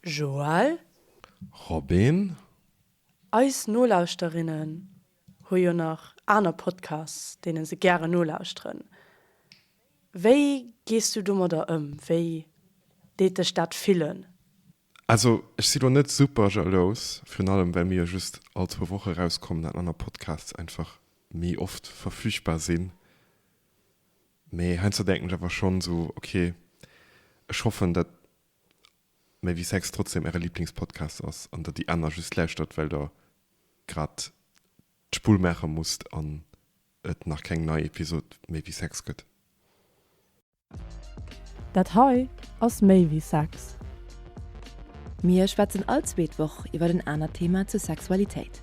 Joël? Robin? Eis Nolauschterinnen hu jo nach aner Podcasts, deene se gären nolauschteren. Wéi gees du domadder ëm? Wéi deet dech dat fillen? Also, ech si lo net super jalous, virun allem, well mir jo just all zwou Woche erauskommen an aner Podcasts einfach méi oft verfügbar sinn. Mee heiansdo denken ech awer schonn esou, ok, ech hoffen, datt Méi wéi Sex trotzdeem Äre Liblingspodcast ass an datt déi aner just lauschtert, well Der grad d'Spull maache musst an et nach keng nei Episod Méi wéi Sex gëtt. Dat hei ass Méi wéi Sex. Mir schwätzen all zweet Woch iwwer en anert Thema zur Sexualitéit.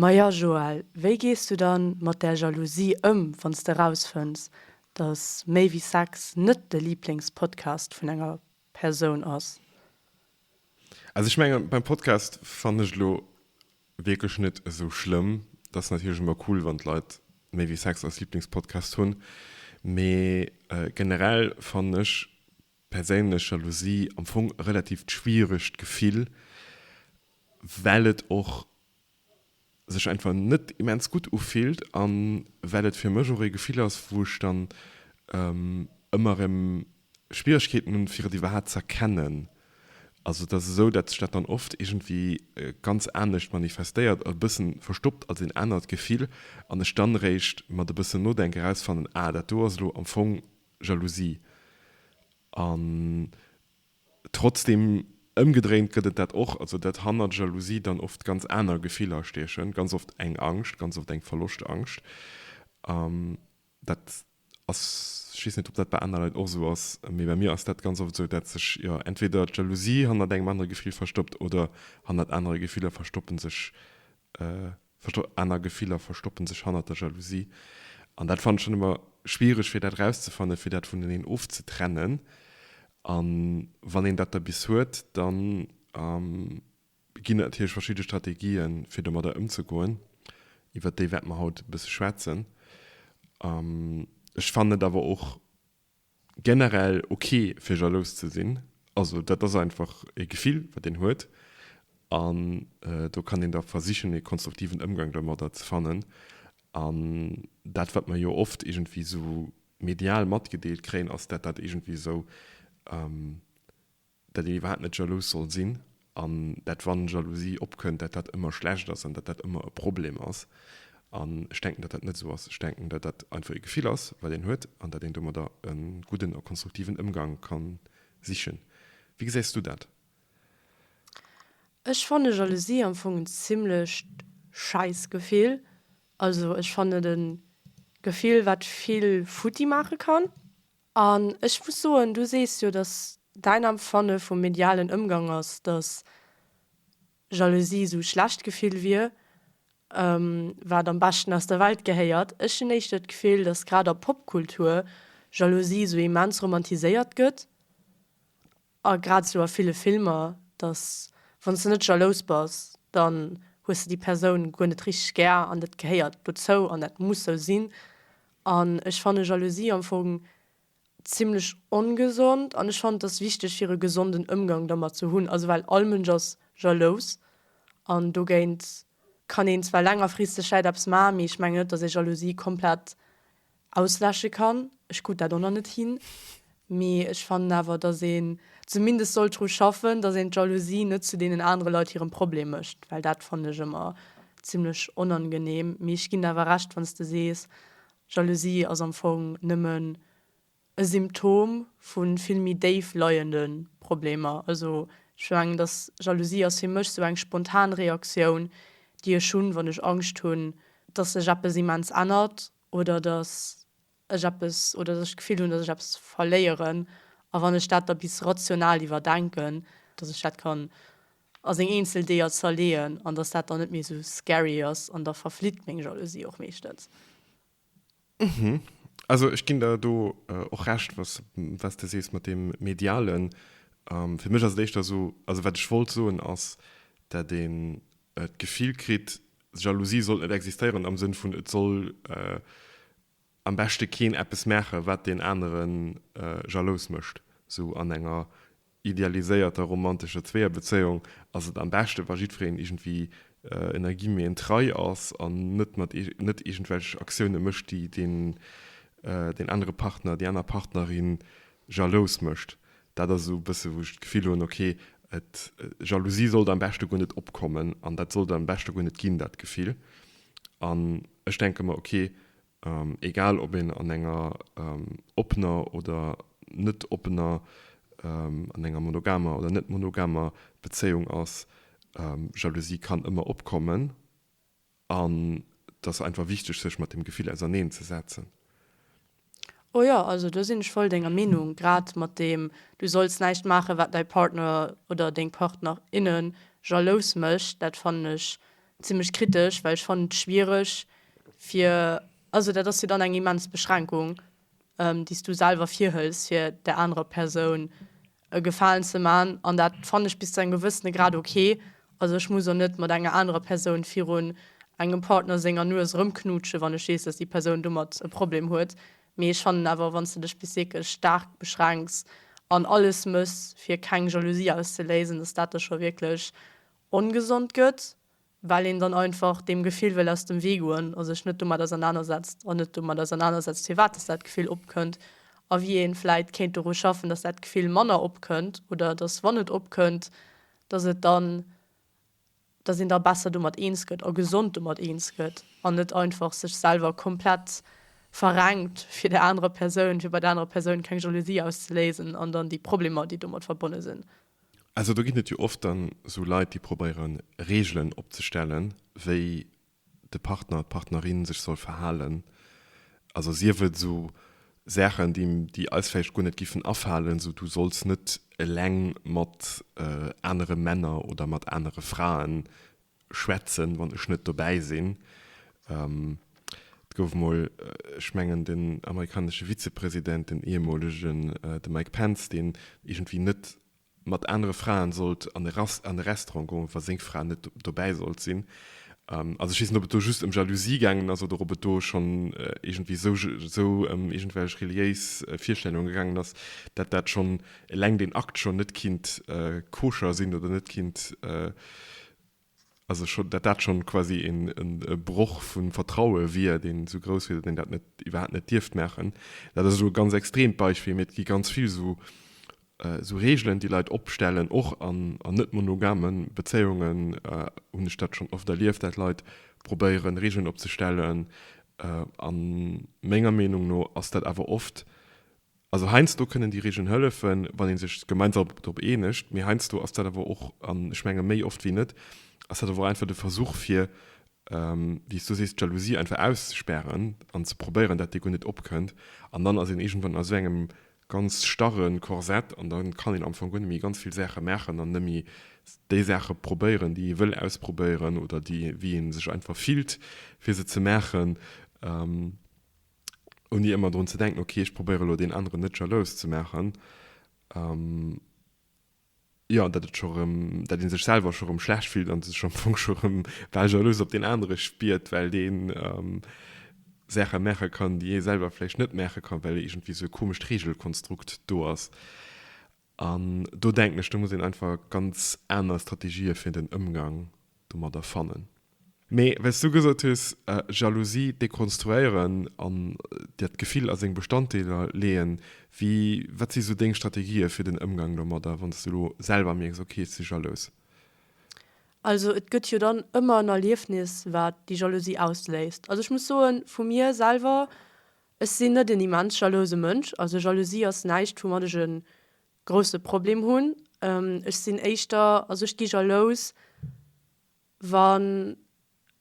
Maja Joël, wéi gees du dann mat där Jalousie ëm, wann s de rausfënns, dass Méi wéi Sex net de Liblingspodcast vun enger Persoun ass? Also ech mengen, beim Podcast fannen ech elo wierklech net esou schlëmm. Et ass natierlech ëmmer cool, wann d'Leit Méi wéi Sex als Liblingspodcast hunn, mee generell fannen ech perséinlech Jalousie am Fong e relativt schwieregt Gefill, well et och sech einfach net immens gutt ufillt a well et fir mech och ee Gefill ass, wou ech dann ëmmer erëm Schwieregkeeten hunn, fir et iwwerhaapt z'erkennen. Also et ass esou, dat sech dat dann oft iergendwéi ganz anescht manifestéiert, e bëssen verstoppt als een anert Gefill, an ech dann eréischt mat e bëssen Nodenk erausfannen, ah, dat do ass elo am Fong Jalousie. An trotzdeem, ëmgedréint gëtt et dat och, also datt hannert Jalousie dann oft ganz aner Gefiller stiechen, ganz oft eng Angscht, ganz oft eng Verloscht-Angscht. Dat ass, ech weess net, ob dat bei aner Leit och esou ass, mee bei mir ass dat ganz oft esou, datt sech, jo, entweder d'Jalousie hannert engem anere Gefill verstoppt oder hannert anere Gefiller verstoppe sech Versto, aner Gefiller verstoppen sech hannert der Jalousie. An dat fannen ech dann ëmmer schwiereg, fir dat erauszefannen, fir dat vuneneen ofzetrennen. A wann een dat da bis huet, da ginn et natierlech verschidde Strategien, fir domadder ëmzegoen, iwwert déi wäerte mer haut e bësse schwätzen. Ech fannen et awer och Generell ok fir jalous ze sinn, also dat ass einfach e Gefill wat een huet an do kann een da versichen e konstruktiven Ëmgang domadder ze fannen an dat wat mer jo oft iergendwéi esou medial matgedeelt kréien ass dat dat iergendwéi esou dat een iwwerhaapt net jalous soll sinn an dat wann Jalousie opkënnt, dat dat ëmmer schlecht ass an dat dat ëmmer e Problem ass. An ech denken, datt dat net esou ass. Ech denken, datt dat einfach e Gefill ass, wat een huet an datt een domadder e gudden a konstruktiven Ëmgang ka sichen. Wéi gesäis du dat? Ech fanne Jalousie am Fong en zimmlecht scheiss Gefill. Also ech fannen et e Gefill, wat vill futti maache kann. An ech muss soen, du sees jo, datt däin Empfanne vum medialen Ëmgang ass, datt Jalousie esou e schlecht Gefill wier, wat am beschten aus der Welt gehéiert. Ech hunn éischter d'Gefill, datt grad a Popkultur Jalousie esou immens romantiséiert gëtt. A grad esou a ville Filmer, dass wann s de net jalous bass, dann hues de déi Persoun guer net richteg gär an dat gehéiert dozou an dat muss sou sinn. An ech fanne Jalousie am Fong zimmlech ongesond an ech fannen et ass wichteg fir e gesonden Ëmgang dermat ze hunn, also well all Mënsch ass jalous an dogéint kann een zwar längerfristeg vläit eppes maachen, mee ech mengen net, dass ee Jalousie komplett Ausläsche kann. Ech krut dat och nach net hin. Mee ech fannen awer, datt een zumindest sollt dru schaffen, datt een d'Jalousie net zu deenen anere Leit hirem Problem mécht, well dat fannen ech ëmmer zimmlech onangenehm. Mee ech ginn der awer Recht, wann s de sees, Jalousie ass am Fong nëmmen e Symptom vu vill méi déif leiende Problemer. Also ech mengen, datt Jalousie ass fir mech sou eng spontan Reaktioun, déi ech hunn, wann ech Angscht hunn, datt sech eppes immens ännert oder dass ech eppes, oder dass ech d'Gefill hunn, dass ech eppes verléieren, a wann ech dat da bis rational iwwerdenken, dass ech dat kann a seng eenzel Deeër zerleeën an dass dat dann net méi esou scary ass an da verflitt meng Jalousie och meeschtens. Mhm. Also ech ginn der do och Recht, was, wat s de sees mat deem Medialen. Fir mech ass et éischter esou, also wat ech wollt soen ass, dat een d'Gefill kritt, Jalousie sollt net existéieren am Sënn vun et soll am beschte keen eppes maache wat deen anere jalous mécht. Sou an enger idealiséierter romantescher Zweeër-Bezéiung ass et am beschte wa jiddwereen iergendwéi ënner Guillemeten trei ass an net mat net iergendwelch Aktioune mécht déi deen anere Partner, déi aner Partnerin jalous mécht. Dat ass esou e bësse wou ech d'Gefill hunn, okay, Jalousie sollt am beschte guer net opkommen an dat sollt et am beschte guer net ginn, dat Gefill. An ech denke mer, okay, egal ob een an enger oppener oder net oppener, an enger monogamer oder net monogamer Bezéiung ass, Jalousie kann ëmmer opkommen. An et ass einfach wichteg, sech mat deem Gefill auserneen ze setzen. Oh jo, also do sinn ech voll denger Meenung, grad mat deem du solls näischt maachen, wat däi Partner oder deng Partner, inne jalous mécht. Dat fannen ech zimmlech kritesch, well ech fannen et schwiereg fir, also dat ass jo dann eng immens Beschränkung, déi s du selwer virhëls fir där anerer Persoun e Gefalen ze man, an dat fannen ech bis zu engem gewëssene Grad ok. Also ech muss och net mat enger anerer Persoun virun engem Partner senger Nues erëmknutschen, wann ech weess, dass déi Persoun domat e Problem huet. Mee ech fannen awer, wann s de dech bis wierklech staark beschränks an alles méchs fir keng Jalousie auszeléisen, dass dat da scho wierklech ongesond gëtt. well een dann einfach deem Gefill wëll aus dem Wee goen a sech net domat ausernanersetzt an net domat ausernanersetzt, firwat dass dat Gefill opkënnt a wéi ee vläit kéint doru schaffen, dass dat Gefill manner opkënnt oder dass, wann et opkënnt, dass et dann, dass een da besser domat eens gëtt a gesond domat eens gëtt an net einfach sech selwer komplett verrenkt fir der anerer Persoun, fir bei der anerer Persoun keng Jalousie auszeléisen an dann déi Problemer, déi domat verbonne sinn. Also do ginn et jo oft dann esou Leit, déi probéiere Reegelen opzestellen, wéi de Partner, d'Partnerin sech soll verhalen. Also sief et esou Saachen, déi eis vläicht guer net géifen afalen, esou du solls net eleng mat anere Männer oder mat anere Fraen schwätzen, wann ech net dobäi sinn. Et gouf emol, ech mengen, den amerikanesche Vizepresident, den ehemolegen, de Mike Pence, deen iergendwéi net mat anere Fraen sollt an e Restaurant goen, wa seng Fra net dobäi sollt sinn. Also ech weess net, ob et do just ëm Jalousie gaangen ass oder ob et do schonn iergendwéi esou ëm iergendwelch reliéis Virstellunge gaangen ass, dat dat schonn eleng deen Akt schon net kinnt koscher sinn oder net kinnt, also schon, dat dat schon quasi en e Broch vu Vertraue wier, deen esou grouss wier, datt een dat net iwwerhaapt net dierft maachen. Dat ass elo e ganz extreemt Beispill, mee et gi ganz vill esou esou Regeln, déi Leit opstellen, och an an net monogame Bezéiungen hunn ech dat schon oft erlieft, dat Leit probéieren Regeln opzestellen. A menger Meenung no ass dat awer oft, Also heiansdo kënnen déi Regeln hëllefen, wann ee sech gemeinsam drop eenegt, mee heiansdo ass dat awer och, an ech menge méi oft wéi net, ass dat awer och einfach de Versuch fir, wéi s du sees, d'Jalousie einfach auszespären an ze probéieren, dat déi guer net opkënnt. An dann ass een iergendwann a sou engem ganz starre Korsett an da kann een am Fong guer net méi ganz vill Saache maachen an net méi déi Saache probéieren, déi ee wëll ausprobéieren oder déi, wéi ee sech einfach fillt, fir se ze maachen. ouni ëmmer drun ze denken, okay, ech probéiere elo deen aneren net jalous ze maachen. Um, ja, dat, et scho rëm, dat ee sech selwer scho rëm schlecht fillt an sech am Fong scho rëm bal jalous op deen anere spiert, well deen um, Saache maache kann, déi ee selwer vläicht net maache kann, well iergendwéi esou e komescht Reegelkonstrukt do ass. An do denken ech, do muss een einfach ganz aner Strategië fir den Ëmgang domadder fannen. Mee wéi s du gesot hues, Jalousie dekonstruéieren an dat Gefill a seng Bestanddeeler leeën, wéi, wat si sou deng Strategië fir den Ëmgang domadder, wann s du elo selwer mierks, ok, ech si jalous? Also et gëtt jo dann ëmmer en Erliefnis, wat déi Jalousie ausléist. Also ech muss soen, vu mir selwer, Ech sinn net en immens jalouse Mënsch, also Jalousie ass näischt woumat ech e grousse Problem hunn. Ech sinn éischter, also ech gi jalous wann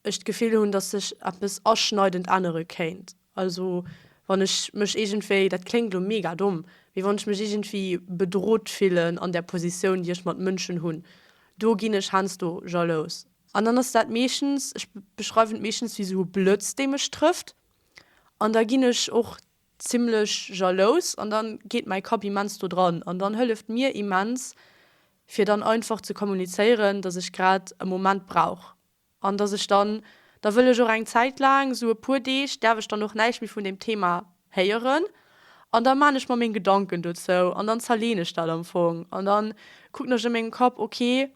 ech d'Gefill hunn, datt sech eppes aschneidend ännere kéint, also wann ech mech iergendwéi, dat kléngt elo mega domm, mee wann ech mech iergendwéi bedrot fillen an där Positioun déi ech mat Mënschen hunn, do ginn ech heiansdo jalous. An dann ass dat meeschtens, ech beschreiwen et meeschtens wéi esou e Blëtz dee mech trëfft. an da ginn ech och zimlech jalous an dann geet mäi Kapp immens do dran an dann hëlleft mir immens fir dann einfach ze kommunizéieren dass ech grad e Moment brauch an dass ech dann da wëll ech och eng Zäit laang sou e puer Deeg däerf ech dann och näischt méi vun deem Thema héieren an da maan ech mer meng Gedanken dozou an dann zerleen ech dat am Fong an dann kucken ech a mengem Kapp ok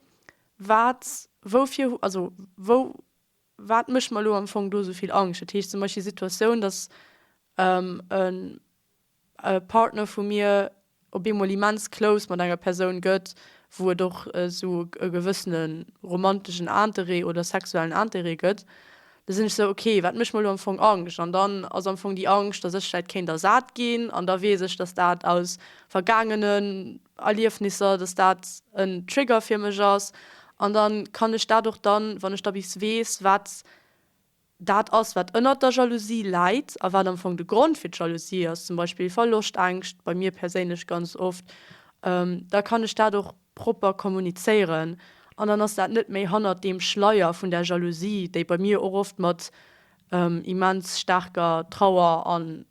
wat woufir also wou Wat mécht mer elo am Fong do esou vill Angscht? Dat heescht zum Beispill déi Situatioun, datt e Partner vu mir op eemol immens close mat enger Persoun gëtt, wou et och esou e gewëssene romanteschen Interêt oder sexuellen Interêt gëtt, da sinn ech esou, ok, wat mécht mer elo am Fong Angscht? An dann ass am Fong déi Angscht, datt ech vläicht kéint ersat ginn, an da weess ech, datt dat aus vergaangene Erliefnisser, dass dat en Trigger fir mech ass an da kann ech dat och dann, wann ech da bis weess, wat dat ass, wat ënnert der Jalousie läit a wat am Fong de Grond fir d'Jalousie ass, zum Beispill Verloschtängscht, bei mir perséinlech ganz oft, da kann ech dat och propper kommunizéieren an dann ass dat net méi hannert deem Schleier vun där Jalousie, déi bei mir och oft mat immens staarker Trauer an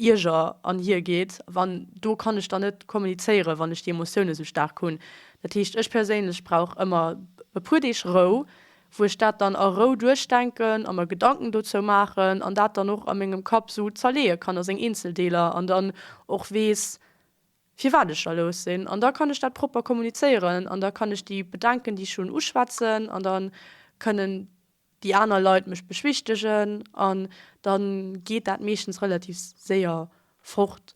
Bierger an hir geet, an do kann ech dann net kommunizéieren, wann ech déi Emotioune sou staark hunn. Dat heescht, ech perséinlech brauch ëmmer e puer Deeg Rou, wou ech dat dann a Rou duerchdenken a mer Gedanken dozou maachen an dat dann och a mengem Kapp sou zerleeë kann a seng eenzel Deeler an dann och weess, firwat ech da lous sinn. An da kann ech dat propper kommunizéieren an da kann ech déi Bedenken, déi ech hunn, uschwätzen an da kënnen déi aner Leit mech beschwichtegen an dann geet dat meeschtens relativ séier fort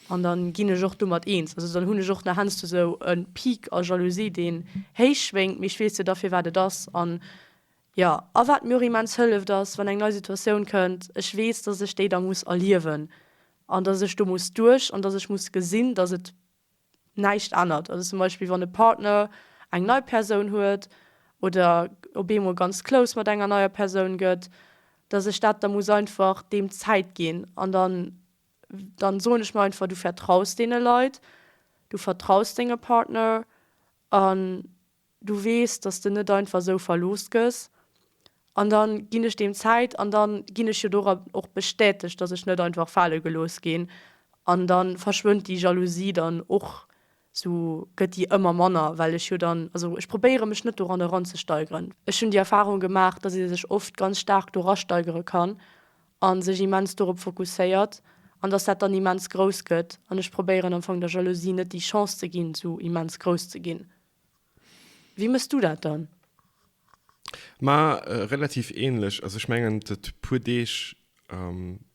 an dann ginn ech och domat eens. Also dann hunn ech och nach hennsto sou e Peak a Jalousie deen héich schwéngt, mee ech weess jo da fir wat et ass an jo. A wat mir och immens hëlleft ass wann eng nei Situatioun kënnt, ech weess dass ech déi da muss erliewen an dass ech do muss duerch an dass ech muss gesinn dass et näischt ännert. Also zum Beispill wann e Partner eng nei Persoun huet oder op eemol ganz close mat enger neier Persoun gëtt, dass ech dat da muss einfach deem Zäit ginn. An dann, dann soen ech mer einfach, du vertraus deene Leit, du vertraus dengem Partner an du weess, dass de net einfach esou verlooss gëss, an da ginn ech deem Zäit an da ginn ech jo doran och bestätegt, dass ech net einfach fale gelooss ginn an da verschwënnt déi Jalousie dann och esou, gëtt déi ëmmer manner, well ech jo dann, also ech probéiere mech net doran eranzesteigeren. Ech hunn déi Erfarung gemaach, dass ee sech oft ganz staark dorasteigere kann a sech immens dorop fokusséiert an dass dat dann immens grouss gëtt an ech probéieren am Fong der Jalousie net déi Chance ze ginn, esou immens grouss ze ginn. Wéi mëss du dat dann? Ma relativ ähnlech. Also ech mengen d' puer Deeg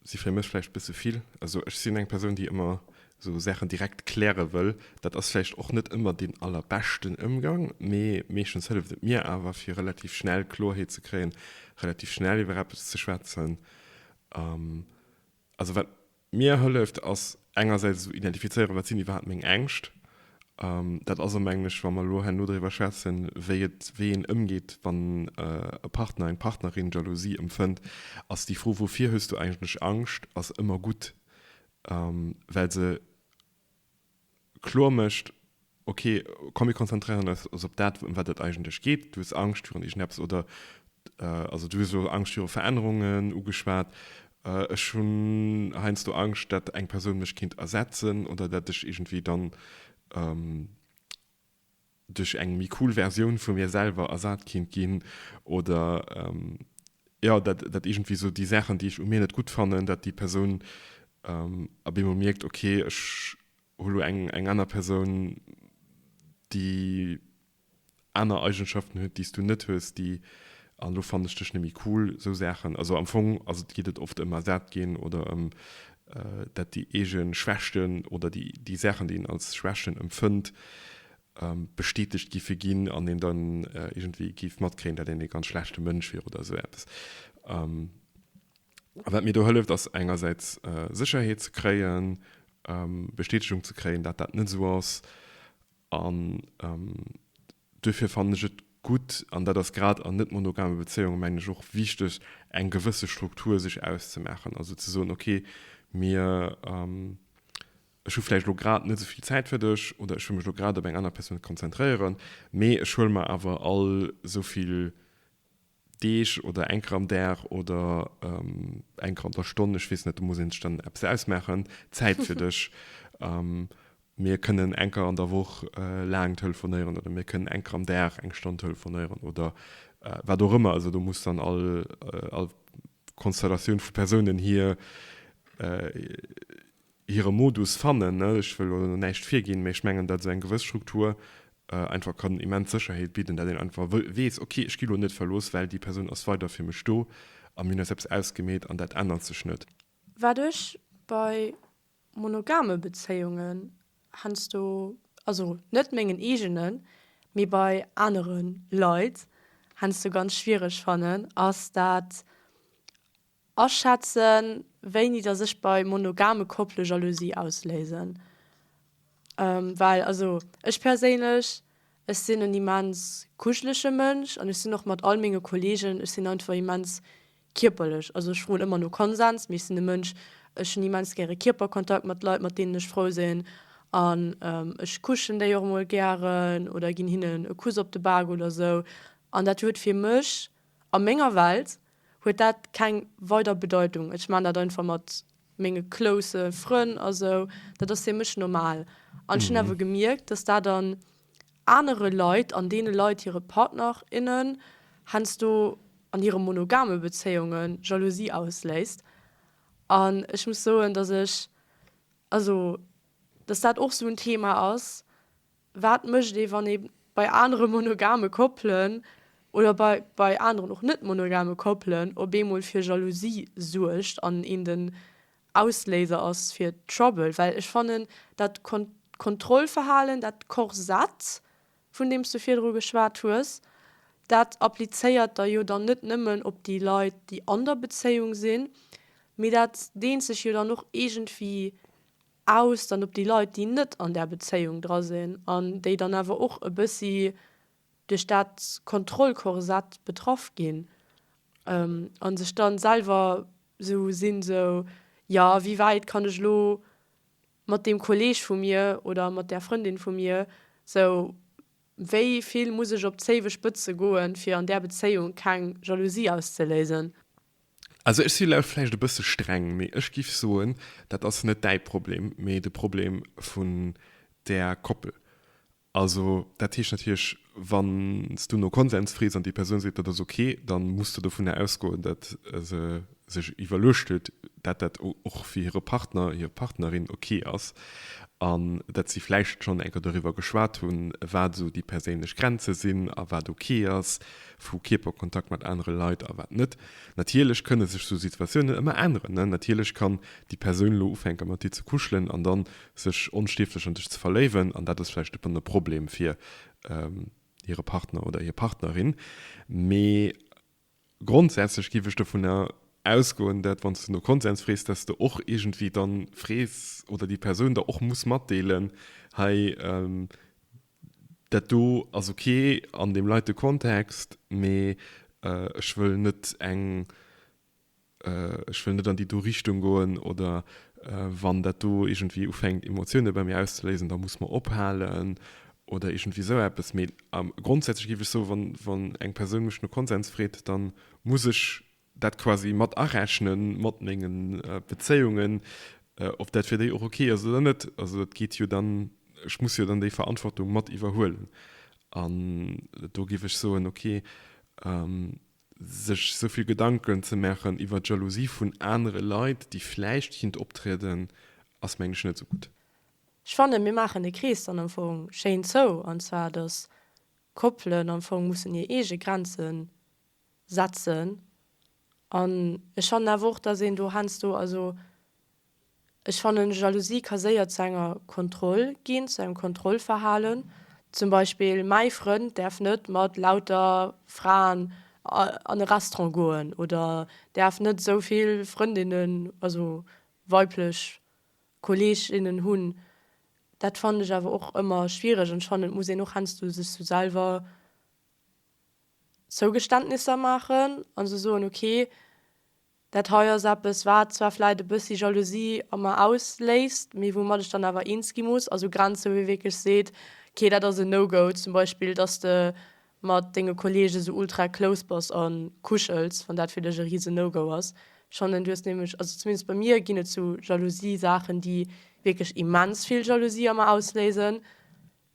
si fir mech vläicht bësse vill. Also ech sinn eng Persoun déi ëmmer sou Saachen direkt kläre wëll. Dat ass vläicht och net ëmmer deen allerbeschten Ëmgang, mee meeschtens hëlleft et mir awer fir relativ schnell Klorheet ze kréien, relativ schnell iwwer eppes ze schwätzen. Also wat Mir hëlleft ass engersäits esou identifizéieren, wat sinn iwwerhaapt meng Ängscht. Dat ass, mengen ech, wa mer elo herno driwwer schwätzen, wéi et, wéi een ëmgeet, wann e Partner, eng Partnerin Jalousie empfënnt, ass déi Fro, woufir hues du eigentlech Angscht, ass ëmmer gutt, well se, kloer mécht, ok, komm mir konzentréieren eis op dat ëm wat et eigentlech geet, du hues Angscht virun iergendepps oder also du hues elo Angscht viru Verännerungen ugeschwat, ech hunn heiansdo Angscht dat eng Persoun mech kéint ersetzen oder dat ech iergendwéi dann. duerch eng méi cool Versioun vu mir selwer ersat kinnt ginn oder jo, dat dat iergendwéi sou déi Saachen, déi ech u mir net gutt fannen, dat déi Persoun ab eemol mierkt, ok, ech hu lo eng eng aner Persoun, déi aner Eigenschaften huet, déi s du net hues, déi an elo fannen ech dech net méi cool, sou Saachen. Also am Fong ass et geet et oft ëm ersat ginn oder ëm dat déi eege Schwächten oder déi Saachen, déi een als Schwächten empfënnt, bestätegt géife ginn an een dann iergendwéi géif matkréien, dat een ee ganz schlechte Mënsch wier oder esou eppes. A wat mir do hëlleft, ass engersäits Sécherheet ze kréien, Bestätegung ze kréien, dat dat net esou ass. Duerfir fannen ech et gutt, an dat ass grad an net-monogame Bezéiunge mengen ech och wichteg, eng gewësse Struktur sech auszemaachen, also ze soen, ok, mir, ech hu vläicht elo grad net esou vill Zäit fir dech oder ech wëll mech elo grad op eng aner Persoun konzentréieren, mee ech huele mer awer all esou vill. Deeg oder eng Kéier am Dag oder eng Kéier an der Stonn, ech weess net, do muss ee sech dann eppes ausmaachen, Zäit fir dech. Mir kënnen eng Kéier an der Woch laang telefonéieren oder mir kënnen eng Kéier am Dag eng Stonn telefonéieren oder wat och ëmmer. Also do muss dann all Konstellatioun vu Persounen hir hire Modus fannen. Ech wëll elo näischt virginn, mä ech mengen, datt esou eng gewëss Struktur einfach kann immens Sécherheet bidden, datt een einfach weess, ok, ech gi elo net verlooss, well déi Persoun ass weider fir mech do a mir hunn eis eppes ausgemeet an dat ännert sech net. Wat ech bei monogame Bezéiungen heiansdo, also net mengen eegenen, mee bei anere Leit heiansdo ganz schwiereg fannen, ass dat, Aschätzen, wéini dass ech bei monogame Koppele Jalousie ausléisen. Well also ech perséinlech, ech sinn en immens kuschelege Mënsch an ech sinn och mat all menge Kollegen, ech sinn einfach immens kierperlech. Also ech froen ëmmer no Konsens, mee ech sinn e Mënsch, ech hunn immens gäre Kierperkontakt mat Leit, mat deenen ech frou sinn. An ech kuschen déi och emol gären oder ginn hinnen e Kuss op de Bak oder esou. An dat huet fir mech A menger Welt huet dat keng weider Bedeitung. Ech maan dat einfach mat menge close Frënn a sou. Dat ass fir mech normal. An ech hunn awer gemierkt, dass dat an anere Leit, an deene Leit hire Partner, innen, heiansdo an hire monogame Bezéiunge Jalousie ausléist. An ech muss soen, dass ech, also dass dat och esou en Thema ass. Wat mécht ee wann ee bei anere monogame Koppelen, oder bei bei aneren och net monogame Koppelen, op eemol fir Jalousie suergt an een den Ausléiser ass fir Trouble? Well ech fannen dat Kontrollverhalen, dat Korsett vun deem s de virdru geschwat hues, dat applizéiert der jo dann net nëmmen op déi Leit déi an der Bezéiung sinn, mee dat deent sech jo dann och iergendwéi. aus dann op déi Leit déi net an där Bezéiung dra sinn an déi dann awer och e bëssi duerch dat Kontrollkorsett betraff ginn a sech dann selwer sou sinn sou, jo wéi wäit kann ech elo mat deem Kolleeg vu mir oder mat där Frëndin vu mir sou wéi vill muss ech op d'Zéiwespëtze goen fir an där Bezéiung keng Jalousie auszeléisen. Also ech si laut vläicht e bësse streng, mee ech giff soen, dat ass net däi Problem, mee de Problem vun där Koppel. Also dat heescht natierlech, wann s du no Konsens frees an déi Persoun seet, dat ass ok, da muss de dovunner ausgoen, dat se sech iwwerluecht huet, dat dat och fir hire Partner, hir Partnerin ok ass an dat si vläicht schonn eng Kéier doriwwer geschwat hunn, wat esou déi perséinlech Grenze sinn a wat ok ass, vu Kierperkontakt mat anere Leit a wat net. Natierlech kënne sech sou Situatiounen ëmmer änneren. Natierlech kann déi Persoun elo ufänke mat dir ze kuschelen an da sech onstierflech an dech ze verléiwen an dat ass vläicht dëppernt e Problem fir hire Partner oder hir Partnerin. Mee grondsätzlech géif ech dovunner ausgoen, dat wann s de no Konsens frees, dat s de och iergendwéi dann frees oder déi Persoun der och muss matdeelen, hei Dat do ass ok an deem leite Kontext, mee ech wëll net eng, ech wëll net an déi do Richtung goen oder wann dat do iergendwéi ufänkt Emotioune bei mir auszeléisen, da muss mer ophalen oder iergendwéi esou eppes. Mee grondsätzlech géif ech soen, wann eng Persoun mech no Konsens freet, da muss ech dat quasi mat arechnen mat mengen Bezéiungen, ob dat fir déi och ok ass oder net. Also dat geet jo dann, ech muss jo dann déi Verantwortung mat iwwerhuelen an do géif ech soen, ok sech esou vill Gedanken ze maachen iwwert d'Jalousie vun anere Leit, déi vläicht géint optrieden, ass mengen ech net esou gutt. Ech fannen, mir maachen de Krees dann am Fong schéin zou, an zwar, dass Koppelen am Fong mussen hir eege Grenze setzen an ech fannen awer och dass een do heiansdo, also ech fannen Jalousie ka séier zu enger Kontroll ginn, zu engem Kontrollverhalen, zum Beispill mäi Frënd däerf net mat lauter Fraen an e Restaurant goen oder däerf net esou vill Frëndinnen, also weiblech Kolleeginnen hunn, dat fannen ech awer och ëmmer schwiereg an ech fannen et muss een och heiansdo sech sou selwer Zougeständnisser maachen a se soen, ok, dat hei ass eppes, wat zwar vläicht e bëssi Jalousie a mer ausléist, mee woumat ech dann awer eens gi muss. Also Grenze, wou ee wierklech seet, ok, dat ass en No-Go. Zum Beispill, dass de mat denge Kolleege sou ultra close bass a kuschels, wann dat fir dech e rise No-Go ass. Ech fannen, du hues nämlech, also zumindest bei mir ginn et sou Jalousie-Saachen, déi wierklech immens vill Jalousie a mer ausléisen.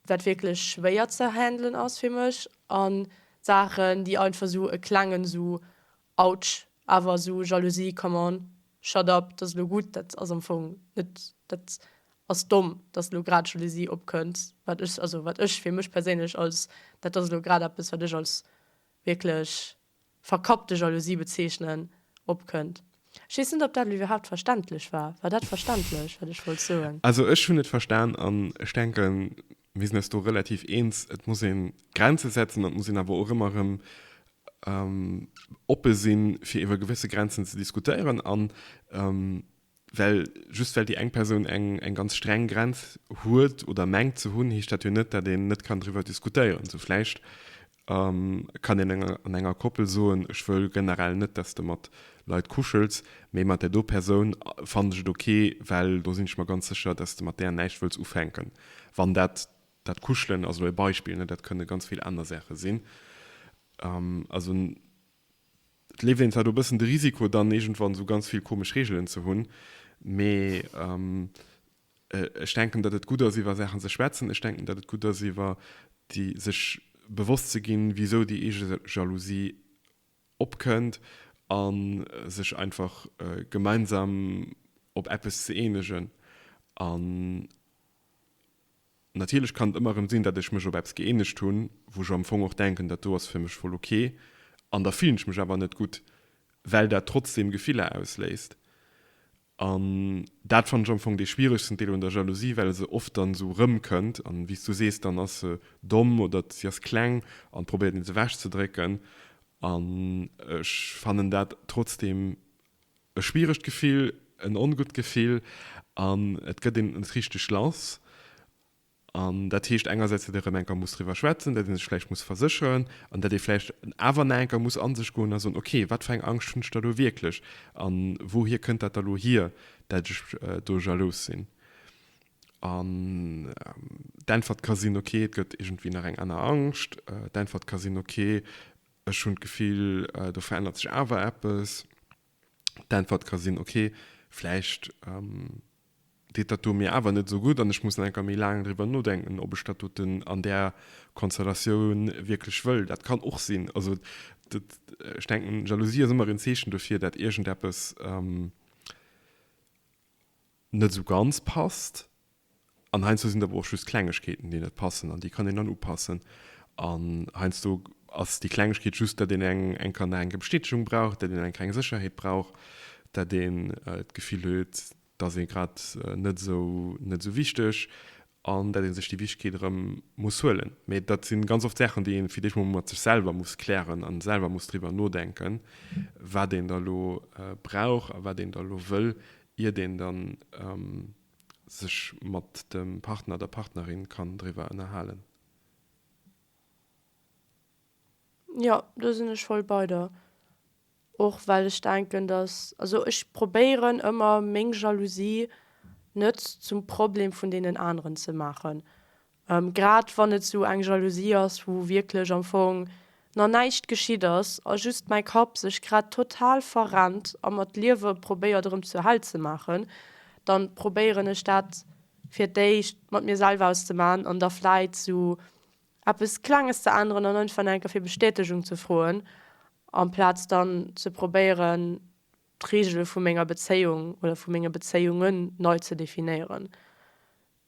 wat wierklech schwéier ze handelen ass fir mech an Saachen déi einfach sou e klengen sou Autsch, awer sou Jalousie, come on, shut up, dat ass elo gutt, dat ass am Fong net, dat ass domm, dass elo grad Jalousie opkënnt, wat ech, also wat ech fir mech perséinlech als, dat ass elo grad eppes wat ech als wierklech verkappte Jalousie bezeechnen, opkënnt. Ech weess net, ob dat elo iwwerhaupt verständlech war. War dat verständlech, wat ech wollt soen? Also ech hunn et verstan an ech denken, mir sinn eis do relativ eens. Et muss ee Grenze setzen an et muss een awer och ëmmer erëm oppe sinn, fir iwwer gewësse Grenzen ze diskutéieren an Well just well déi eng Persoun eng eng ganz streng Grenz huet oder mengt ze hunn, heescht dat jo net, datt een net kann driwwer diskutéieren. Sou vläicht kann een an enger Koppel soen, ech wëll generell net, datt s de mat Leit kuschels, mee mat där do Persoun fannen ech et ok, well do sinn ech mer ganz sécher, datt s de mat där näischt wëlls ufänken. Wann dat, dat Kuschelen ass elo e Beispill, dat kënne ganz vill aner Saache sinn. Also. Et leeft een zwar do e bëssen de Risiko, dann iergendwann esou ganz vill komesch Reegelen ze hunn, mee ech denken, datt et gutt ass, iwwer Saachen ze schwätzen. Ech denken, datt et gutt ass, iwwer déi sech bewosst ze ginn, wisou déi eege Jalousie opkënnt a sech einfach gemeinsam op eppes ze eenegen. Natierlech kann et ëmmer erëm sinn, datt ech mech op eppes gëeenegt hunn, wou ech am Fong och denken, dat do ass fir mech voll ok, an da fillen ech mech awer net gutt, well dat trotzdeem Gefiller ausléist. An dat fannen ech am Fong dee schwieregsten Deel un der Jalousie, well se oft dann esou erëmkënnt, an wéi s du sees, dann ass se domm oder si ass kleng an probéiert nees ewechzedrécken. An ech fannen dat trotzdeem E schwieregt Gefill, en ongutt Gefill an et gëtt een net richteg lass. An dat heescht engersäits, datt ee rëm eng Kéier muss driwwer schwätzen, datt ee sech vläicht muss versécheren an datt ee vläicht awer nach eng Kéier muss a sech goen a soen, ok, wat fir eng Angscht hunn ech da lo wierklech a wouhier kënnt dat da lo hier, dat ech do jalous sinn? An d'Äntwert ka sinn, ok, et gëtt iergendwéi nach eng aner Angscht. D'Äntwert ka sinn, ok, Ech hunn d'Gefill, do verännert sech awer eppes. D'Äntwert ka sinn, Okay, vläicht deet dat do mir awer net esou gutt an ech muss nach eng Kéier méi laang driwwer nodenken, ob ech dat doten an där Konstellatioun wierklech wëll. Dat kann och sinn. Also dat, ech denken, Jalousie ass ëmmer en Zeechen dofir, dat iergendeppes. net esou ganz passt. An heiansdo sinn et awer och just Klengegkeeten, déi net passen an déi kann een dann upassen. An heiansdo ass déi Klengegkeet just, datt een eng eng kann nach eng kéier Bestätegung brauch, datt een eng kleng Sécherheet brauch, datt een d'Gefill huet, et ass ee grad net esou net esou wichteg. an dat ee sech déi Wichtigkeet erëm muss huelen. Mee dat si ganz oft Saachen, déi ee fir d'éischt mol mat sech selwer muss klären a selwer muss driwwer nodenken, wat een da lo brauch a wat een da lo wëll, iert een da sech mat dem Partner, der Partnerin kann driwwer ënnerhalen. Jo, do sinn ech voll bei der. Och well ech denken, datt, also ech probéieren ëmmer meng Jalousie net zum Problem vun deenen aneren ze maachen, grad wann et esou eng Jalousie ass, wou wierklech am Fong nach näischt geschitt ass a just mäi Kapp sech grad total verrennt a mer d'Liewe probéiert erëm zur Hell ze maachen, da probéieren ech dat fir d'éischt mat mir selwer auszemaan an da vläit esou eppes Klenges ze änneren an einfach nach eng Kéier fir Bestätegung ze froen, amplaz dann ze probéieren, d'Reegele vu menger Bezéiung oder vu menge Bezéiungen nei ze definéieren.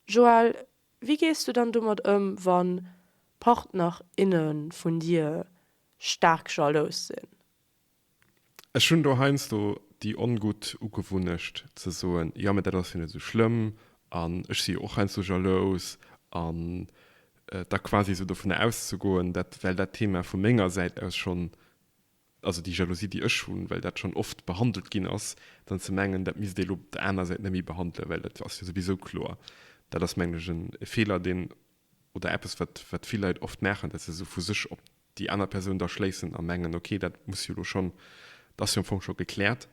Joël, wéi gees du dann domat ëm, wa Partner, inne vun dir staark jalous sinn? Ech hunn do heiansdo déi ongutt Ugewunnecht ze soen, Jo, mä dat ass jo net esou schlëmm an ech si jo och heiansdo jalous. An da quasi esou dovunner auszegoen, dat well dat Thema vu menger Säit aus schonn, also déi Jalousie, déi ech hunn, well dat schonn oft behandelt ginn ass, dann ze mengen, dat misst ee lo op der aner Säit net méi behandelen, well dat ass jo souwisou kloer. Dat ass, mengen ech, e Feeler, deen Oder eppes, wat vill Leit oft maachen, datt se sou vu sech op déi aner Persoun da schléissen a mengen, ok, dat muss jo elo schonn, dat ass jo am Fong scho gekläert.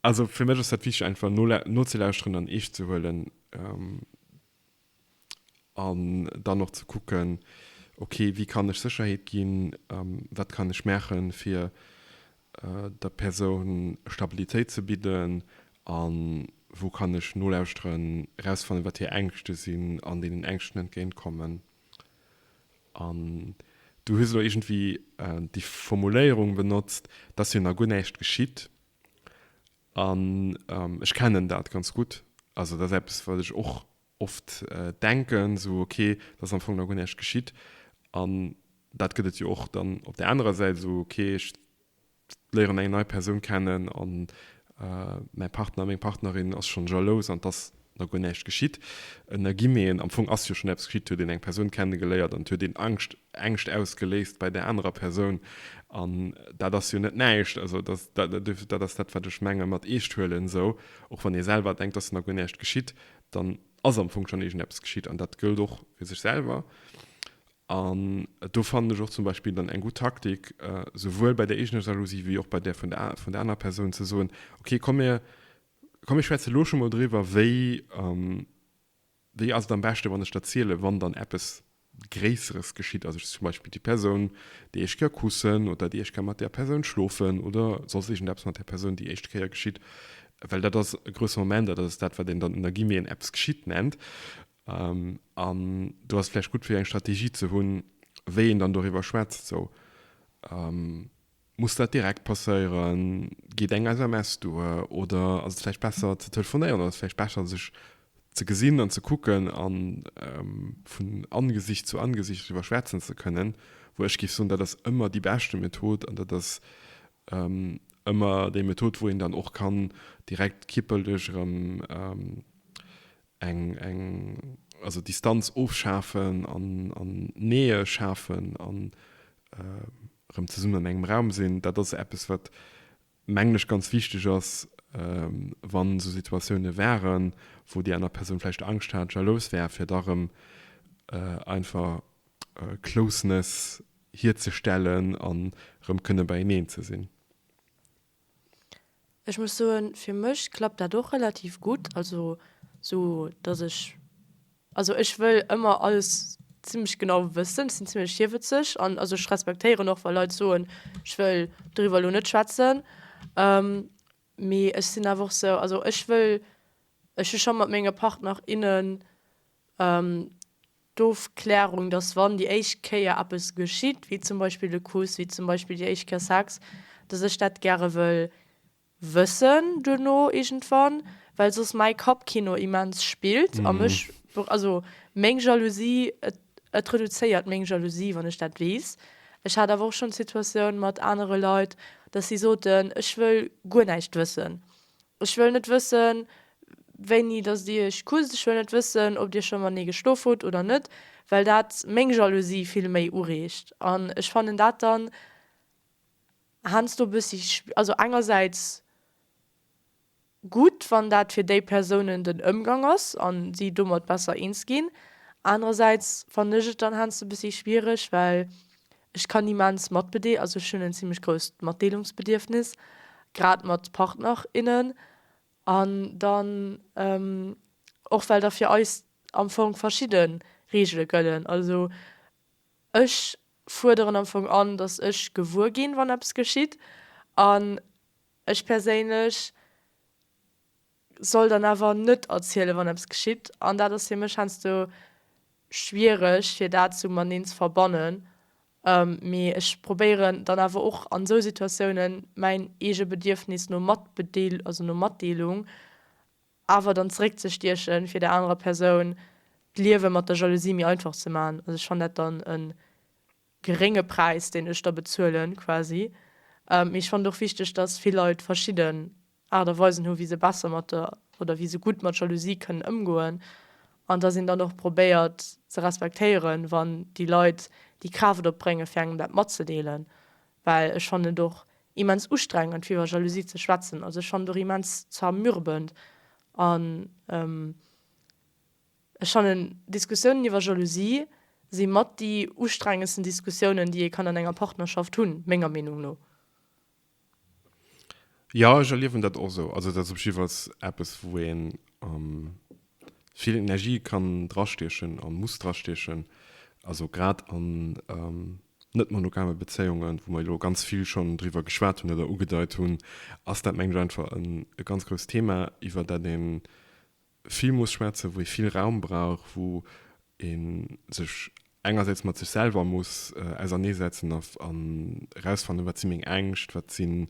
Also fir mech ass dat wichteg, einfach nozelauschteren an eescht ze huelen an dann och ze kucken, ok, wéi kann ech Sécherheet ginn, wat kann ech maachen, fir der Persoun Stabilitéit ze bidden a wou kann ech nolauschteren, erausfannen, wat hir Ängschte sinn an deenen Ängschten entgéint kommen. An du hues elo iergendwéi déi Formuléierung benotzt, dass jo nach guer näischt geschitt. An ech kennen dat ganz gutt, also dat ass eppes, wat ech och oft denken, esou ok, et ass am Fong nach guer näischt geschitt, an dat gëtt et jo och dann op där anerer Säit, esou ok, ech léieren eng nei Persoun kennen an mäi Partner, meng Partnerin ass schonn jalous an et ass nach guer näischt geschitt. Ënnergi mir een, am Fong ass jo schonn eppes geschitt, et huet een eng Persoun kennegeléiert an et huet een Angscht, Ängscht ausgeléist bei där anerer Persoun an dat ass jo net näischt. Also dat ass dat, wat ech menge mat Eescht huelen, esou och wann ee selwer denkt, et ass nach guer näischt geschitt, dann ass am Fong schonn iergendeppes geschitt an dat gëllt och fir sech selwer. An do fannen ech och zum Beispill dann eng gutt Taktik, souwuel bei der eegener Jalousie wéi och bei där vun der vun der anerer Persoun ze soen, ok komm mir komm mir schwätze lo scho mol driwwer, wéi wéi ass et am beschte wann ech der ziele wann dann eppes Gréisseres geschitt, also zum Beispill déi Persoun, déi éischt Kéier kussen oder déi éischt Kéier mat där Persoun schlofen oder soss iergendeppes mat där Persoun déi éischt Kéier geschitt, well dat ass e grousse Moment, dat ass dat, wat een dann ënner Guillemeten eppes geschitt nennt. An do ass et vläicht gutt fir eng Strategie ze hunn, wéi een dann doriwwer schwätzt esou. Muss dat direkt passéieren? Geet eng SMS duer? Oder ass et vläicht besser ze telefonéieren? Oder ass et vläicht besser sech ze gesinn an ze kucken a vun Angesicht zu Angesicht driwwer schwätzen ze kënnen? Wou ech géif soen, dat ass ëmmer déi beschte Method an dat ass ëmmer déi Method wou een dann och kann direkt kippelech erëm eng, eng, also Distanz ofschafen an Nähe schafen a Erëm zesummen an engem Raum sinn, dat ass eppes, wat, mengen ech, ganz wichteg ass, wann esou Situatiounen waren, wou déi aner Persoun vläicht Angscht hat, jalous war, fir da erëm einfach Closeness hierzestellen an erëm kënne beieneen ze sinn. Ech muss soen, fir mech klappt dat och relativ gutt. Also sou datt ech, also ech wëll ëmmer alles zimlech genau wëssen. Ech sinn zimlech hierwëtzeg an also ech respektéieren och wa Leit soen, ech wëll doriwwer elo net schwätzen. Mee ech sinn awer och sou, also ech wëll, ech hu scho mat menge Partner, innen, d'Ofklärung, datt wann déi éischt Kéier eppes geschitt, wéi zum Beispill e Kuss, wéi zum Beispill déi éischt Kéier Sex, datt ech dat gäre wëll wëssen duerno iergendwann, well soss mäi Kappkino immens spillt a mech, also meng Jalousie, et et reduzéiert meng Jalousie, wann ech dat weess. Ech hat awer och schonn d'Situatioun mat anere Leit, datt si soten, ech wëll guer näischt wëssen. Ech wëll net wëssen, wéini datt Dir Iech kusst. Ech wëll net wëssen, ob Dir scho matenee geschlof hutt oder net, well dat meng Jalousie vill méi ureegt. An ech fannen dat dann heiansdo e bëssi, also engersäits gutt, wann dat fir déi Persounen den Ëmgang ass a si domat besser eens ginn. Anerersäits fannen ech et dann heiansdo e bëssi schwiereg, well Ech kann immens matbedee, also ech hunn en zimlech grousst Matdeelungsbedierfnis, grad mat Partner, innen, an dann och well da fir eis am Fong verschidde Reegele gëllen. Also ech fuerderen am Fong an, datt ech gewuer ginn, wann eppes geschitt, an ech perséinlech. soll dann awer net erzielen, wann eppes geschitt. An dat ass fir mech heiansdo schwiereg, fir dat esou mateneen ze verbannen. Mee ech probéieren dann awer och an esou Situatiounen mäin eege Bedierfnis no Matbedeel, also no Matdeelung, awer dann zeréckzestiechen, fir der anerer Persoun d'Liewe mat der Jalousie méi einfach ze maachen. Also ech fannen dat dann e gerénge Präis, deen ech da bezuelen quasi. Mee ech fannen et och wichteg, dass vill Leit verschidde Aart a Weisen hu wéi se besser mat der, oder wéi se gutt mat Jalousie kënnen ëmgoen, an dass een dann och probéiert ze respektéieren, wann déi Leit déi Kraaft opbréngen, fir engem dat matzedeelen, well ech fannen et och immens ustrengend, fir iwwer Jalousie ze schwätzen. Also ech fannen et och immens zermürbend an ech fannen, Diskussiounen iwwer Jalousie si mat déi ustrengendsten Diskussiounen, déi ee kann an enger Partnerschaft hunn, menger Meenung no. Jo, ech erliewen dat och esou. Also dat ass op jiddwer Fall eppes, wou ee vill Energie kann drastiechen a muss drastiechen. Also grad an net-monogame Bezéiungen, wou mer elo ganz vill schonn driwwer geschwat hunn oder ugedeit hunn, ass dat mengen ech einfach e ganz grousst Thema, iwwer dat ee vill muss schwätzen, wou ee vill Raum brauch, wou ee sech engersäits mat sech selwer muss ausernee setzen a erausfannen, wat si meng Ängscht, wat sinn,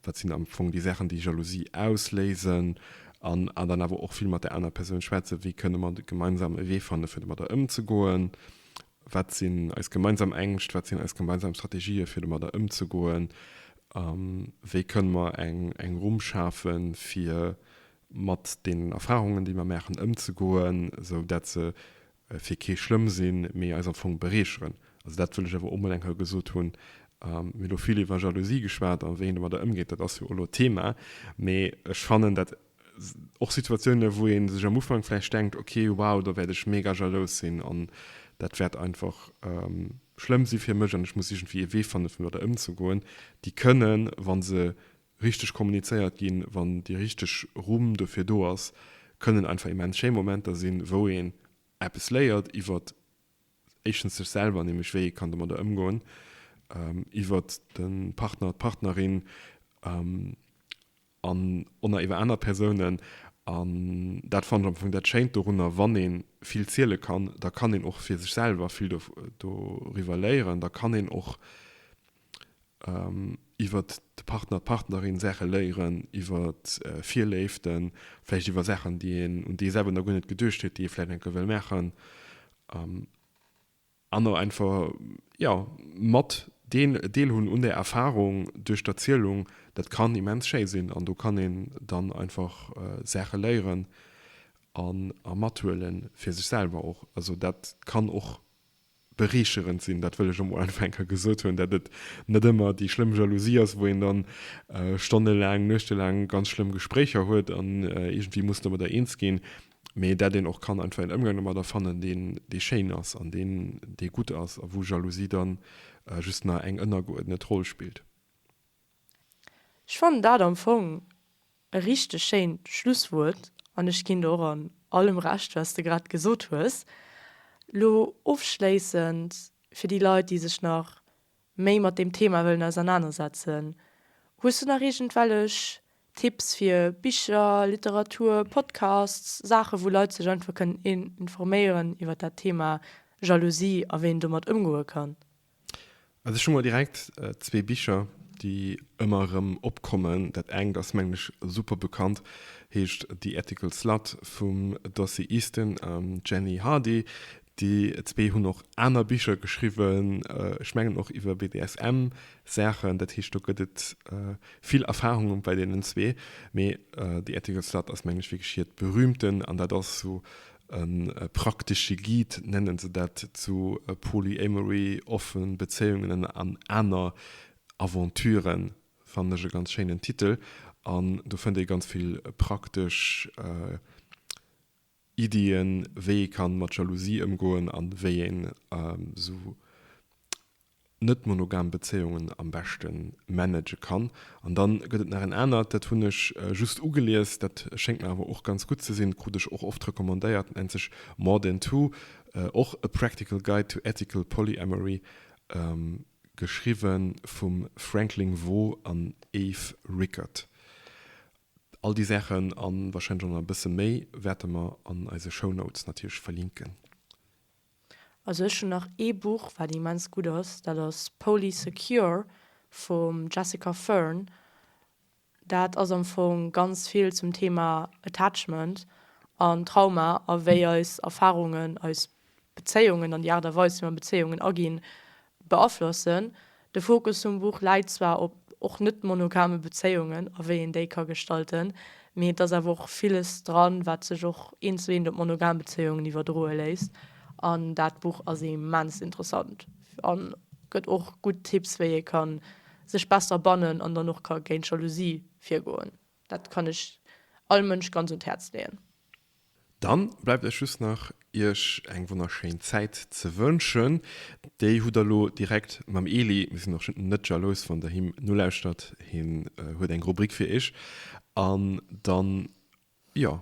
wat sinn am Fong déi Saachen, déi Jalousie ausléisen an an dann awer och vill mat der anerer Persoun schwätzen, wéi kënne mer gemeinsam e Wee fanne fir domadder ëmzegoen Wat sinn eis gemeinsam Ängscht, wat sinn eis gemeinsam Strategië fir domadder ëmzegoen a wéi kënne mer eng Rumm schafe fir mat deenen Erfarungen, déi mer maachen, ëmzegoen, sou dat se fir kee schlëmm sinn, mee eis am Fong bereecheren. Also dat wëll ech awer onbedéngt hei gesot hunn. Mir hunn elo vill iwwer Jalousie geschwat a wéi een domadder ëmgeet, dat ass jo elo Thema, mee ech fannen dat, Och Situatiounen, wou ee sech am Ufank vläicht denkt, ok, wow, do wäert ech mega jalous sinn an dat wäert einfach schlëmm si fir mech an ech muss iergendwéi ee Wee fanne fir mat der ëmzegoen, déi kënnen, wa se richteg kommunizéiert ginn, wann déi richteg Rumm dofir do ass, kënnen einfach immens schéi Momenter sinn, wou een eppes léiert iwwer éischtens sech selwer, nämlech wéi ee kann domadder ëmgoen, iwwer de Partner, d'Partnerin. an onner iwwer aner Persounen an dat fannen ech am Fong dat schéint dorunner, wann een vill ziele kann, da kann een och fir sech selwer vill doriwwer léieren, da kann een och iwwer de Partner, d'Partnerin Saache léieren, iwwer Virléiften, vläicht iwwer Saachen déi een, un déi ee selwer nach guer net geduecht huet, déi ee vläicht eng Kéier wëll maachen. An och einfach, jo, mat deen Deel hunn un der Erfahrung duerch d'Erzielung, dat kann immens schéi sinn. An do kann een dann einfach Saache léieren a mathuele fir sech selwer och. Also dat kann och bereecherend sinn, dat wëll ech emol einfach eng Kéier gesot hunn, dat et net ëmmer déi schlëmm Jalousie ass, wou een dann stonnelaang, nuechtelaang ganz schlëmm Gespréicher huet an iergendwéi muss domadder eens ginn. mee dat een och kann einfach een Ëmgang domadder fannen, deen, dee schéin ass an deen, dee gutt ass a wou Jalousie dann just nach eng ënnergeuerdnet Roll spillt. Ech fannen dat am Fong e richteg schéint Schlusswuert an ech ginn der och an allem Recht, wat s de grad gesot hues. Elo ofschléissend, fir déi Leit, déi sech nach méi mat deem Thema wëllen ausernanersetzen, hues du nach iergendwellech Tipps fir Bicher, Literatur, Podcasts, Saachen, wou Leit sech einfach kënnen informéieren iwwert dat Thema Jalousie a wéi een domat ëmgoe kann? Also ech hu mol direkt zwee Bicher, déi ëmmer erëm opkommen. Dat engt ass, mengen ech, super bekannt, heescht The Ethical Slut vum Dossie Easton an Jenny Hardy. Déi zwee hunn och aner Bicher geschriwwen, ech mengen och iwwer BDSM-Saachen. Dat heescht, do gëtt et vill Erfarunge bei deenen zwee. Mee The Ethical Slut ass, mengen ech, wierklech hiert berühmten, an dat ass esou e praktesche Guide, nennen se dat, zu Polyamory, offen Bezéiungen an aner Aventuren. Fannen ech e ganz schéinen Titel. An do fënnt ee ganz vill praktesch Iddien, wéi ee kann mat Jalousie ëmgoen an wéi een esou net monogam Bezéiungen am beschten managen kann. An dann gëtt et nach en anert, dat hunn ech just ugelies, dat schéngt mer awer och ganz gutt ze sinn, krut ech och oft recommandéiert, dat nennt sech More Than Two, och A Practical Guide to Ethical Polyamory, geschriwwen vum Franklin Veaux an Eve Rickert. All déi Saachen a warscheinlech och nach e bësse méi wäerte mer an eise Shownotes natierlech verlinken. Also ech hunn nach ee Buch wat immens gutt ass, dat ass Poly Secure vum Jessica Fern. Dat ass am Fong ganz vill zum Thema Attachment an Trauma a wéi eis Erfarungen eis Bezéiungen an déi Aart a Weis, wéi mer Bezéiungen aginn, beaflossen. De Fokus vum Buch läit zwar op och net monogame Bezéiungen a wéi een déi ka gestalten, mee et ass awer och villes dran, wat sech och eent zu eent op monogam Bezéiungen iwwerdroe léisst. An dat Buch ass immens interessant a gëtt och gutt Tipps, wéi ee ka sech besser bannen an dann och ka géint Jalousie virgoen. Dat kann ech all Mënsch ganz un d'Häerz leeën. Dann bleift eis just nach iech eng wonnerschéin Zäit ze wënschen. Déi hutt der lo direkt mam Eli. Mir sinn och net jalous wann der him nolauschtert. Hien huet eng Rubrik fir iech. An dann, jo,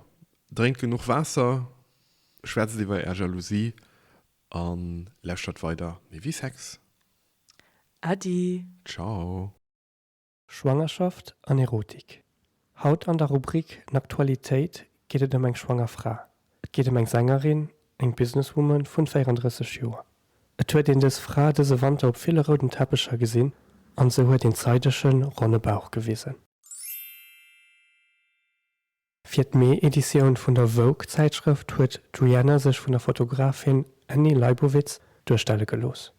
drénkt genuch Waasser, schwätzt iwwer är Jalousie a lauschtert weider Méi wéi Sex. Äddi. Ciao. Schwangerschaft an Erotik Haut an der Rubrik N'Aktualitéit geet et ëm eng schwanger Fra. Et geet ëm eng Sängerin, eng Businesswoman vun 34 Joer. Et huet een dës Fra dëse Wanter op ville rouden Teppecher gesinn an se huet een zeidegen ronne Bauch gewisen. Fir d'Mee-Editioun vun der Vogue-Zäitschrëft huet d'Rihanna sech vun der Fotografin Annie Leibovitz duerstelle gelooss.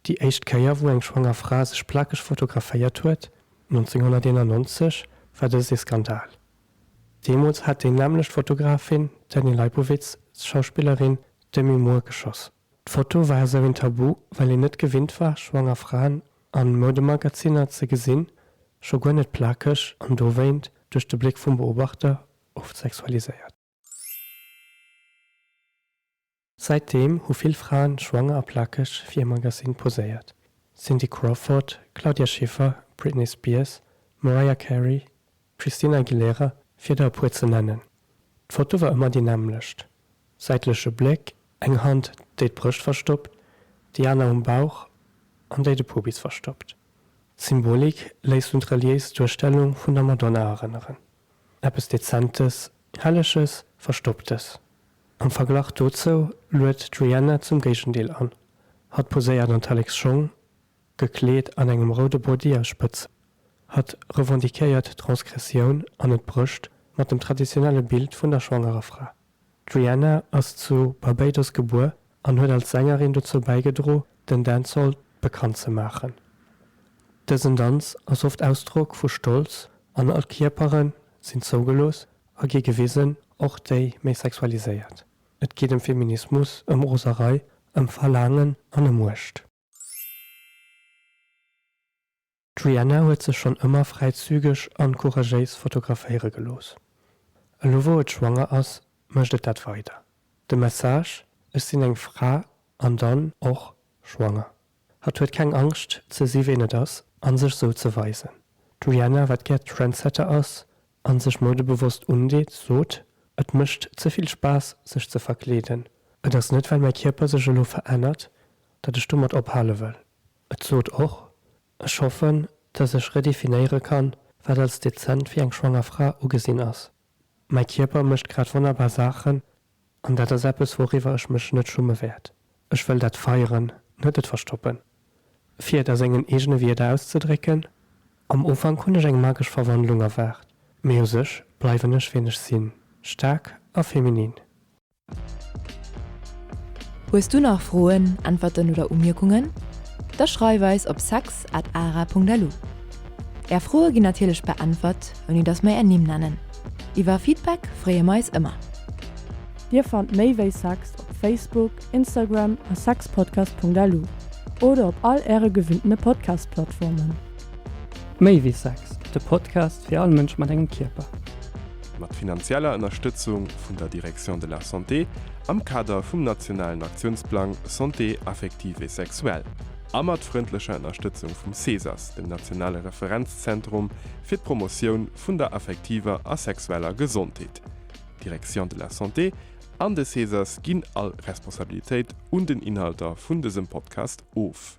Déi éischt Kéier, wou eng schwanger Fra sech plakeg fotograféiert huet, 1991, war dëst ee Skandal. Deemools hat déi nämmlecht Fotografin, d'Annie Leibovitz, d'Schauspillerin Demi Moore geschoss. D'Foto war esou een Tabu, well een net gewinnt war, schwanger Fraen a Moudemagaziner ze gesinn, scho guer net plakeg an dowéint duerch de Bléck vum Beobachter oft sexualiséiert. Säitdeem hu vill Fraen schwanger a plakeg fir ee Magazin poséiert, Cindy Crawford, Claudia Schiffer, Britney Spears, Mariah Carey, D'Christina Aguilera, fir der e puer ze nennen. D'Foto war ëmmer déi nämmlecht, säitleche Bléck, eng Hand, déi d'Brëscht verstoppt, déi aner um Bauch an déi de Pubis verstoppt. D'Symbolik léisst un d'reliéis Duerstellung vun der Madonna erënneren, eppes Dezentes, Helleges, Verstopptes. Am Verglach dozou luet d'Rihanna zum Géigendeel an, hatt poséiert an d'Alex Schong, Gekleet an engem roude Body a spëtz Hatt revendiquéiert d'Transgressioun an et brécht mat dem traditionelle Bild vun der schwangerer Fra. D'Rihanna ass zu Barbados gebuer an huet als Sängerin dozou bäigedro den Dancehall bekannt ze maachen. Dësen Danz ass oft Ausdrock vu Stolz an all Kierpere sinn zougelooss a gi gewisen, och déi méi sexualiséiert. Et geet ëm Feminismus, ëm Roserei, ëm Verlaangen an ëm Muecht. D'Rihanna huet sech schonn ëmmer fräizügeg an couragéis fotograféiere gelooss. Elo wou et schwanger ass, mécht et dat weider. De Message, Ech sinn eng Fra an dann och schwanger. Hatt huet keng Angscht ze si ween et ass an sech sou ze weisen. D'Rihanna, wat gär Trendsetter ass, an sech modebewosst undeet, sot, Et mécht ze vill Spaass, sech ze verkleeden. Et ass net, well mäi Kierper sech elo verännert, datt ech domat ophale wëll. Et sot och, Ech hoffen, datt ech redefinéiere kann, wat als dezent fir eng schwanger Fra ugesinn ass. Mäi Kierper mécht grad wonnerbar Saachen, An dat ass eppes, wouriwwer ech mech net schumme wäert. Ech wëll dat feieren, net et verstoppen. Fir et a sengen eegene Wierder auszedrécken, Am Ufank hunn ech eng magesch Verwandlung erwaart, mee u sech bleiwen ech wien ech sinn, staark a feminin. Hues du nach Froen, Äntwerten oder Umierkungen? Da schreif eis op sex at ara punkt lu. Är Froe ginn natierlech beäntwert, ouni datt mer är Nimm nennen. Iwwer Feedback freeë mer eis ëmmer! Dir fannt méi wéi Sex op Facebook, Instagram a sexpodcast.lu oder op all äre gewinnte Podcast-Plattformen. Méi wéi Sex, de Podcast fir all Mënsch mat engem Kierper. Mat finanzieller Ënnerstëtzung vun der Direction de la Santé am Kader vum nationalen Aktiounsplang Santé affective et sexuelle a mat frëndlecher Ënnerstëtzung vum CESAS, dem nationale Referenzzentrum fir d'Promotioun vun der affektiver a sexueller Gesondheet. D'Direction de la Santé an de Cesas ginn all Responsabilitéit un den Inhalter vun dësem Podcast of.